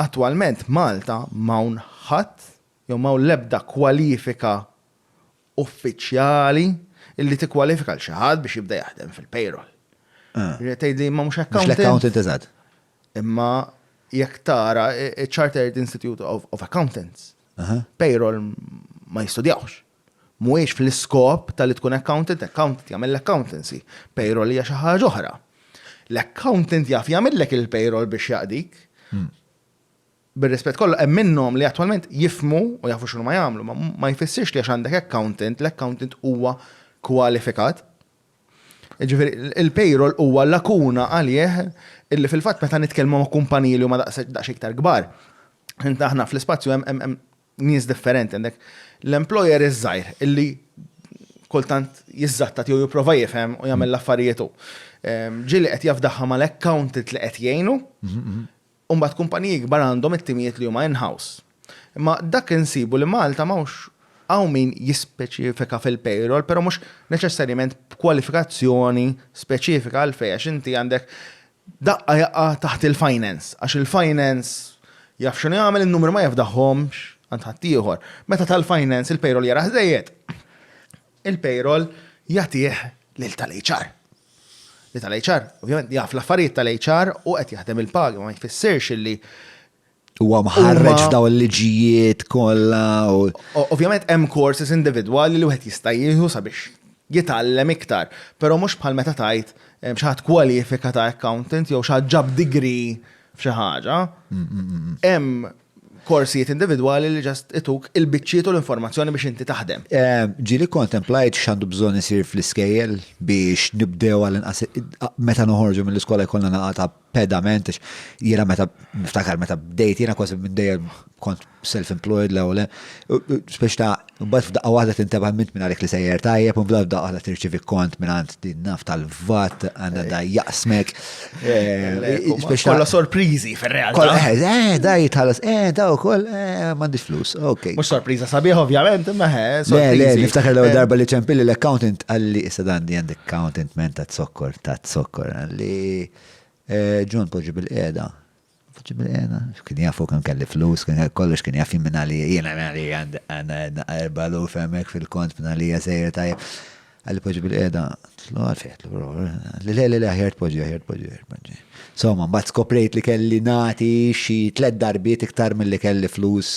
Attwalment Malta m'hawn ħadd jew m'hawn l-ebda kwalifika uffiċjali li tikkwalifika lil xi ħadd biex jibda jaħdem fil-payroll. Ġifieri qed tgħid li imma mhux accountant. Mhux l-accountant, eżatt. Imma jekk tara ċ-Chartered Institute of Accountants, payroll ma jistudjawhx. Mhuwiex fl-iskop ta' li tkun accountant, accountant jagħmel l-accountancy, payroll hija xi ħaġa oħra. L-accountant jaf jagħmillek il-payroll biex jaqdik. Bir-rispett kollu, hemm minnhom li attwalment jifhmu u jafu x'huma jagħmlu, ma ma jfissirx li għax għandek accountant, l-accountant huwa kwalifikat. Jiġifieri, il-payroll huwa lakuna għalih illi fil-fatt meta nitkellmu ma' kumpaniji li huma daqsxejn iktar kbar, aħna fl-ispazju hemm nies differenti, għandek l-employer iż-żgħir illi kultant jiżatta tiegħu jipprova jifhem u jagħmel l-affarijiet hu. Ehm, ġieli qed jafdaħħa mal-accountant li qed jgħinu, mhm, mhm. u mbagħad kumpaniji kbar għandhom it-timijiet li huma in-house. Imma dak insibu li Malta m'hawnx hawn min jispeċifika fil-payroll, però mhux neċessarjament b'kwalifikazzjoni speċifika għal fejn għax inti għandek Daqqa jaqa' taħt il-finance għax il-finance jaf x'inhu jagħmel, in-numri ma jafdahhomx għand ħaddieħor. Meta ta l-finance il-payroll jarah żejjed, il-payroll jagħtih lil tal-HR. Li tal-HR ovvjament jaf l-affarijiet tal-HR u qed jaħdem il-pagi, ma jfissirx illi Huwa mħarreġ f'daw il-liġijiet kollha. Ovvjament hemm courses individwali li wieħed jista' jieħu sabiex jitgħallem iktar, però mhux bħal meta tajt eh, xaħat kwalifika ta' accountant jew xaħat ġab degree f'xi ħaġa. Mm, mm, mm, hemm korsijiet individwali li ġast ituk il-biċċiet u l-informazzjoni biex inti taħdem. Eh, ġili kontemplajt xandu bżon isir fl-iskejjel biex nibdew għal meta noħorġu mill-iskola jkollna naqa ta' pedament, jiena meta niftakar meta bdejt, jiena kważi minn dejjem kont self-employed l ewwel biex ta' mbagħad f'daqqa waħda tinteba' mint minn għalik li sejjer tajjeb, u mbagħad f'daqqa waħda tirċivi kont minn għand din naf tal-vat, għandha da jaqsmek. Eh, kolla sorpriżi fir-realtà. Kolla, eh, eh, da jitħallas, eh, da wkoll, eh, m'għandix flus, ok. Mhux sorpriża sabiħ ovvjament, imma eh, sorpriżi. Niftakar l-ewwel eh. darba li ċempilli l-accountant għalli issa dan di għandek accountant menta t-sokkor ta' zokkor, li John poġġi bil-qiegħda. Poġġi bil-qiegħda, kien jaf hu kemm kelli flus, kien jaf kollox, kien jaf jien għalija, jien għalija għandna erba' luf hemmhekk fil-kont minn għalija sejjer tajjeb. Għalli poġġi bil-qiegħda, tlu għalfejn, tlu li le li le aħjar tpoġġi, aħjar tpoġġi, aħjar tpoġġi. Somma, mbagħad skoprejt li kelli nagħti xi tliet darbiet iktar milli kelli flus